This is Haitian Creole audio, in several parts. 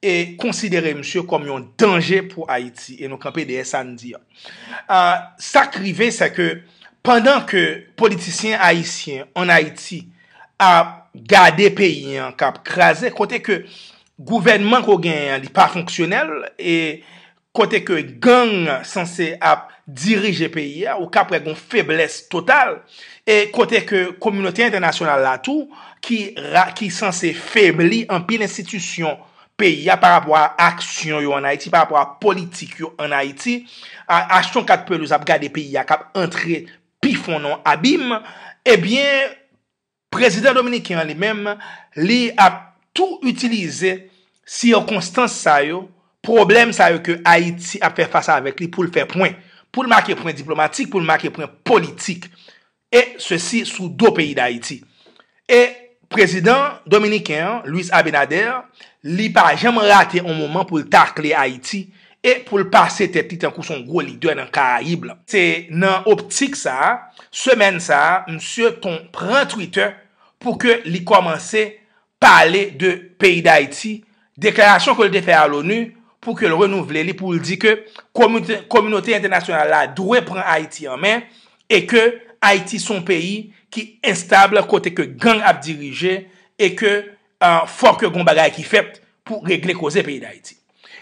e konsidere misye kòm yon danje pou Ayiti e nou kanpe dèyè sa n di an. Sa k rive se ke pandan ke politisyen ayisyen an Ayiti ap gade peyi an k ap kraze kote ke gouvènman ke w genyen an li pa fonksyonèl e kote ke gang sanse ap dirije peyi a, ou kap wè gon feblès total, e kote ke kominote entènasyonal la tou, ki sanse febli anpil enstitisyon peyi a, pa rapò a aksyon yo an Ayiti, pa rapò a politik yo an Ayiti, achte yon kat pelouz ap gade peyi a kap antre pi fon nan abim, ebyen, Prezidan dominiken an li menm, li ap tou itilize sikonstans sa yo, pwoblèm sa yo ke Ayiti ap fè fas avèk li pou l fè pwen, pou l make pwen diplomatik, pou l make pwen politik. E sesi sou do peyi Dayiti. E prezidan dominiken an, Luis Abinader, li pa janm rate on moman pou l takle Ayiti e pou l pase tèt li tankou son gwo lidè nan Karayib lan. Se nan optik sa, semèn sa a, msye ton pran Twitter pou ke li kòmanse pale de peyi Dayiti, deklarasyon ke l te fè a l'ONU pou ke l renouvle li pou l di ke kominote entènasyonal la dwe pran Ayiti an men e ke Ayiti son peyi ki enstable kote ke gang ap dirije e ke Fò ke gon bagay ki fèt pou regle koze peyi Dayiti.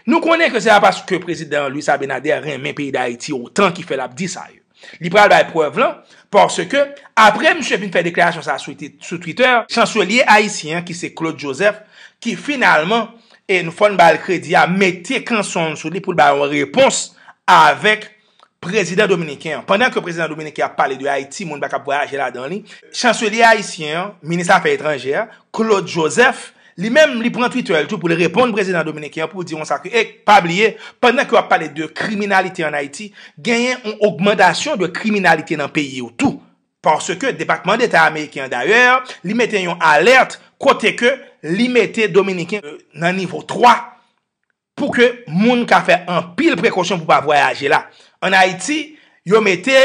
Nou konnen ke se pa paske prezidan Luis Abinader renmen peyi Dayiti otan ki fè l ap di sa yo. Li pral bay prèv lan, paske apre misye fin fè deklarasyon sa sou Twitter, chanselye ayisyen an ki se Claude Joseph, ki finalman, e nou fò n ba l kredi a, mete kanson l sou li pou l ba yon repons avèk. Prezidan dominiken an. Pandan ke prezidan dominiken ap pale de Ayiti, moun pa kab vwayaje ladan li, chanselye ayisyen an, minis afè etranjè a, Claude Joseph, li menm li pran Twitter li tou pou li reponn prezidan dominiken an pou di konsa ke, ey, pa bliye, pandan ke w ap pale de kriminalite an Ayiti, genyen yon ogmantasyon de kriminalite nan peyi w tou. Paske depatman deta ameriken an dayè, li mete yon alèt kote ke li mete dominiken nan nivo 3 Pou ke moun ka fè anpil prekosyon pou pa vwayaje la an Ayiti, yo mete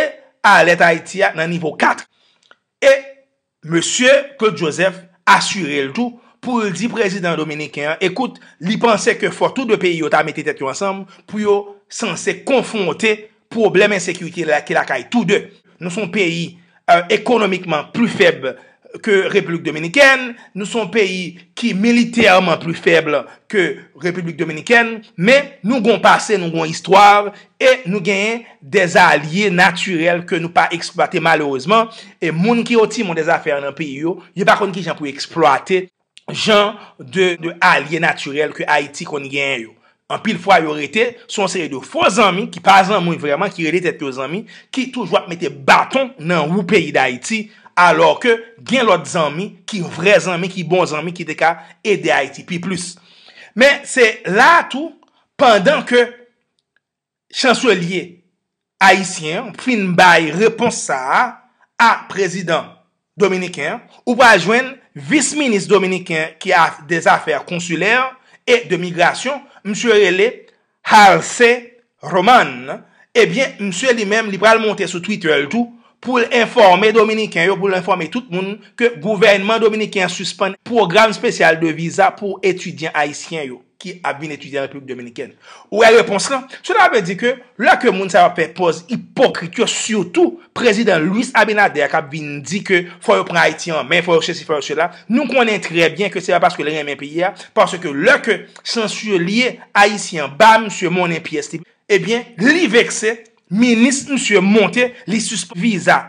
alèt Ayiti a nan nivo 4. E Mesye Claude Joseph asire l tou pou l di prezidan dominiken an ekout li panse ke fò tou 2 peyi yo ta mete tèt yo ansanm pou yo sanse konfwonte Pwoblèm ensekirite la ki lakay tou de. Nou son peyi ekonomikman pli fèb ke Repiblik Dominikèn, nou son peyi ki militèman pli fèb ke Repiblik Dominikèn, men nou gon pase, nou gon istwa, e nou genyen de alye natirèl ke nou pa eksplwate malerezman, e moun ki otimon de zafè an nan peyi yo, yo pa konn kijan pou eksplwate. jan de alye natirèl ke Ayiti konn genyen yo. Anpil fwa yo rete sou yon seri de fo zanmi ki pa zanmi vreman, ki rele tèt yo zanmi, ki toujou ap mete baton nan wou peyi Dayiti, alò ke gen lòt zanmi ki vrè zanmi, ki bon zanmi, ki te ka ede Ayiti pi plis. Men se la a tou, pandan ke Chanselye ayisyen an fin bay repons sa a a prezidan dominiken an, ou pral jwenn vis minis dominiken ki a de zafè konsilè e de migrasyon, msye rele Halse Roman, ebyen msye li menm li pral monte sou Twitter l tou pou l enfòme dominiken yo, pou l enfòme tout moun ke gouvènman dominiken an sispann pwogram spesyal de viza pou etidyan ayisyen yo. ki ap vin etidye an Repiblik Dominikèn. Ou wè repons lan? Sela vle di ke lè ke moun sa yo ap fè pòz ipokrit yo, sitou Prezidan Luis Abinader k ap vin di ke fò yo pran Ayiti an men, fò yo sesi, fò yo sela, nou konnen trè byen ke se pa paske l renmen peyi a, paske lè ke chanselye ayisyen an ba misye monnen pyès li, ebyen li vekse, minis misye monte, li sispann viza.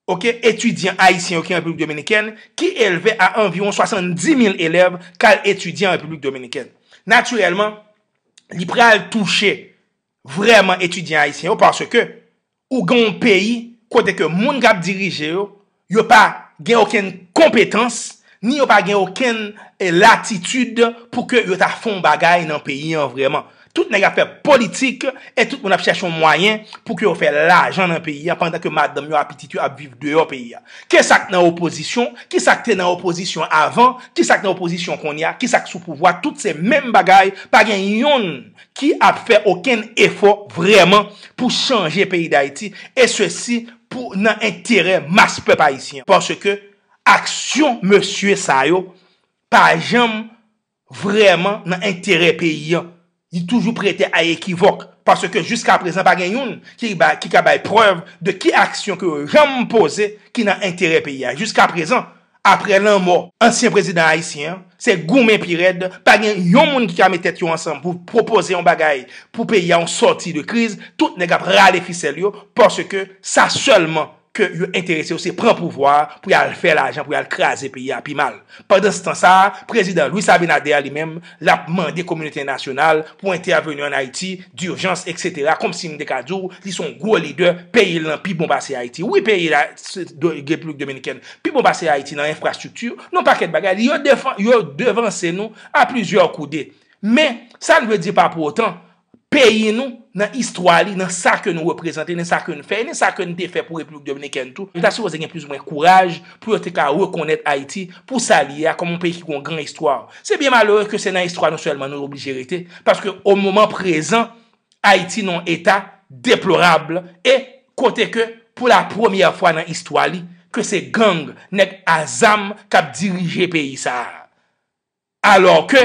Ok, etidyan ayisyen yo ki an Repiblik Dominikèn, ki elve a anviwon 70 mil elèv, ka al etidye an Repiblik Dominikèn. Natirèlman, li pral touche vrèman etidyan ayisyen yo paske ou gen yon peyi kote ke moun k ap dirije yo, yo pa gen okenn konpetans, Ni yo pa gen okenn latitid pou ke yo ta fon bagay nan peyi an vreman. Tout nèg ap fè politik e tout moun ap chèche yon mwayen pou ke yo fè lajan nan peyi an pandan ke madanm yo a pitit yo ap viv deyò peyi an. Ke sa k nan opozisyon, ki sa k te nan opozisyon avan, ki sa k nan opozisyon kounye a, ki sa k sou pouvwa, tout se menm bagay, pa gen yonn ki ap fè okenn efò vreman pou chanje peyi Dayiti e sesi pou nan enterè mas pèp Ayisyen. Paske. Aksyon mesye sa yo pa janm vrèman nan enterè peyi an. Li toujou prete a ekivòk. Paske jiska prezan pa gen youn ki ka bay prèv de ki aksyon ke yo janm poze ki nan enterè peyi a. Jiska prezan, apre lanmò ansyen prezidan ayisyen an, se goumen pi rèd. Pa gen yon moun ki ka met tèt yo ansanm pou pwopoze yon bagay pou peyi a yon sòti de kriz. Tout nèg ap rale fisèl yo paske sa sèlman ke yo enterese yo se pran pouvwa a pou yal fè lajan pou yal kraze peyi a pi mal pandanstan sa a prezidan Luis Abinader li menm lap mande kominote entènasyonal pou entèveni an Ayiti durjans etc komsi m te ka di w li son gwo lidè peyi l lan pi bon pase Ayiti wi peyi l repiblik dominikèn pi bon pase Ayiti nan enfrastrikti nan yon pakèt bagay li yo devanse nou a plizyè koude men sa n vle di pa pou otan peyi nou, nan istwa li, nan sa ke nou reprezante, nan sa ke n fè, e nan sa ke n te fè pou Repiblik Dominikèn tou, yo ta sipoze gen plizoumwen kouraj pou yo te ka rekonèt Ayiti pou sa li ye a, kòm yon peyi ki gen yon gran istwa. Se byen malere ke se nan istwa nou sèlman nou oblije rete, paske o moman prezan, Ayiti nan yon eta deplorab e kote ke pou la premyè fwa nan istwa li, ke se gang, nèg a zam k ap dirije peyi sa a. Alò ke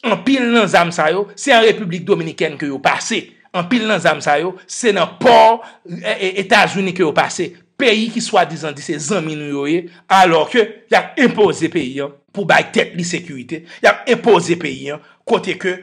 anpil nan zam sa yo se an Repiblik Dominikèn ke yo pase, anpil nan zam sa yo se nan pò Etazini ke yo pase, peyi ki swadizan di se zanmi nou yo ye, alò ke y ap enpoze peyi an pou bay tèt li sekirite, y ap enpoze peyi an kote ke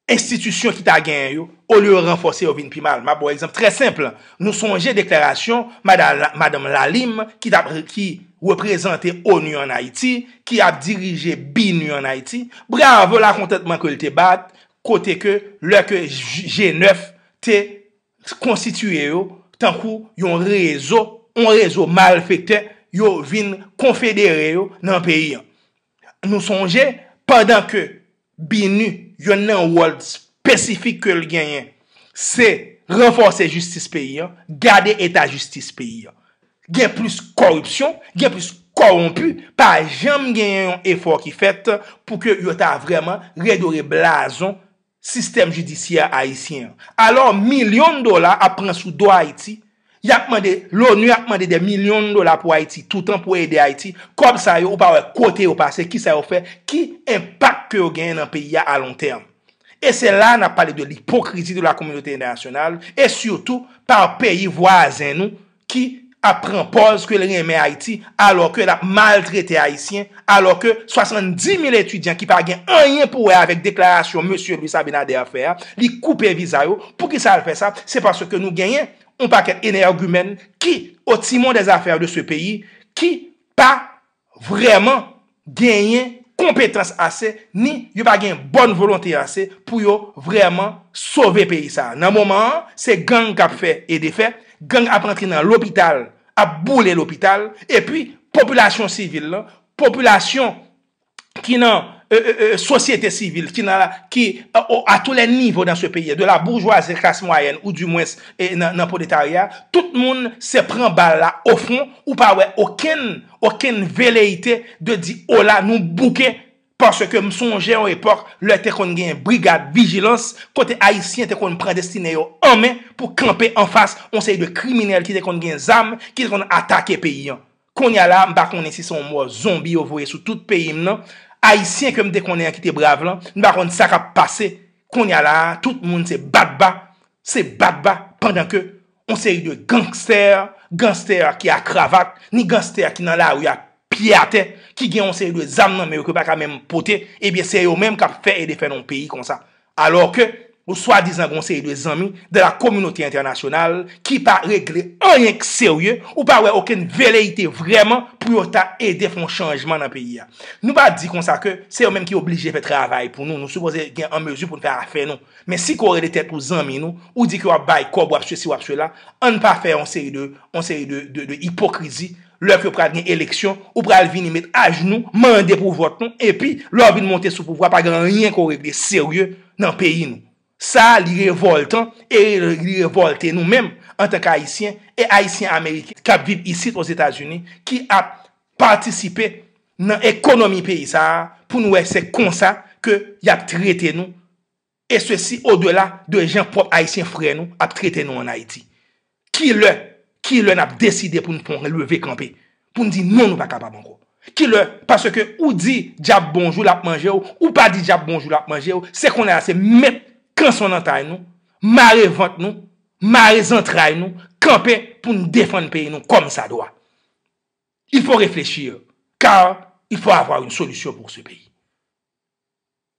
enstitisyon ki ta genyen yo, olye yo ranfòse yo vin pi mal. M ap ba w egzanp trè senp, nou sonje deklarasyon madanm Lalime ki t ap, ki reprezante onu an Ayiti, ki ap dirije BINUH an Ayiti, bravo lakontantman ke l te bat, kote ke lè ke G9 te konstitiye yo tankou yon rezo, yon rezo malfektè, yo vin konfedere yo nan peyi an. Nou sonje, pandan ke BINUH, yonn nan wòl spesifik ke l genyen, se ranfòse jistis peyi an, gade eta jistis peyi an. Gen plis kòripsyon, gen plis kòwonpi, pa janm genyen yon efò ki fèt pou ke yo ta vrèman redore blazon sistèm jidisyè ayisyen an. Alò milyon dola ap pran sou do Ayiti, y ap mande, l'ONU ap mande dè milyon dola pou Ayiti toutan pou ede Ayiti, kòb sa yo ou pa wè kote yo pase, ki sa yo fè, ki enpak ke yo genyen nan peyi a alontèm. E se la a n ap pale de lipokrizi de la kominote entènasyonal e sitou pa peyi vwazen nou ki ap pran pòz ke l renmen Ayiti alò ke l ap maltrete Ayisyen, alò ke 70 mil etidyan ki pa gen anyen pou wè avèk deklarasyon mesye Luis Abinader fè a, li koupe viza yo. Poukisa l fè sa? Se paske nou genyen yon pakèt enègimèn ki o timon dè zafè de se peyi ki pa vrèman genyen konpetans ase ni yo pa gen bòn volonte ase pou yo vrèman sove peyi sa a. Nan moman an, se gang k ap fè e defè, gang ap antre nan lopital, ap boule lopital, epi popilasyon sivil lan, popilasyon ki nan sosyete sivil, ki a tou lè nivo nan se peyi a, de la boujwazi a la klas mwayèn, ou di mwens nan proletarya tout moun se pran bal la ofon ou pa wè okenn okenn veleyite de di ola nou bouke paske m sonje yon epòk lè te konn gen brigad vijilans kote ayisyen te konn pran destine yo an men pou kanpe anfas yon seri de kriminèl ki te konn gen zam ki te konn atake peyi an Konnya la, m pa konnen si se yon mò zonbi yo voye sou tout peyi m nan. Ayisyen ke m te konnen an ki te brav lan, m pa konn sa k ap pase konnya la a. Tout moun se bat ba, se bat ba pandan ke yon seri de gangstè, ganstè ki a kravat, ni ganstè ki nan lari a pye atè, ki gen yon seri de zam nan men yo ke yo pa ka menm pote, ebyen se yo menm k ap fè e defè nan yon peyi konsa. Alò ke yon swadizan gon seri de zanmi de la kominote entènasyonal ki pa regle anyen k serye, ou pa wè okenn veleyite vrèman pou yo ta ede fè yon chanjman nan peyi a. Nou pa di konsa ke se yo menm ki oblije fè travay pou nou, nou sipoze gen an mezi pou n fè afè nou. Men si ke w rele tèt ou zanmi nou, ou di ke w ap bay kòb, w ap sesi, w ap sela, ann pa fè yon seri de yon seri de ipokrizi, Lè ke pral gen eleksyon, ou pral vini met ajnou, mande pou vòt nou, epi, lè w vin monte sou pouvwa, pa gen anyen ke w regle serye nan peyi nou. Sa, li revòltan, e li revòlte nou menm, antanke Ayisyen, e Ayisyen Ameriken kap viv isit Ozetazini, ki ap patisipe nan ekonomi peyi sa a, pou nou wè se konsa ke yap trete nou E sesi o dela de jan pwòp Ayisyen frè nou ap trete nou an Ayiti. Ki lè, ki lè n ap deside pou n pran yon leve kanpe, pou n di non nou pa kapab ankò? Ki lè, paske ou di dyab bonjou l ap manje w, ou pa di dyab bonjou l ap manje w, se kounye a se met kanson nan tay nou, mare vant nou, mare zantray nou, kanpe pou n defann peyi nou kòm sa dwa. Il faut réfléchir, car il faut avoir une solution pour ce pays.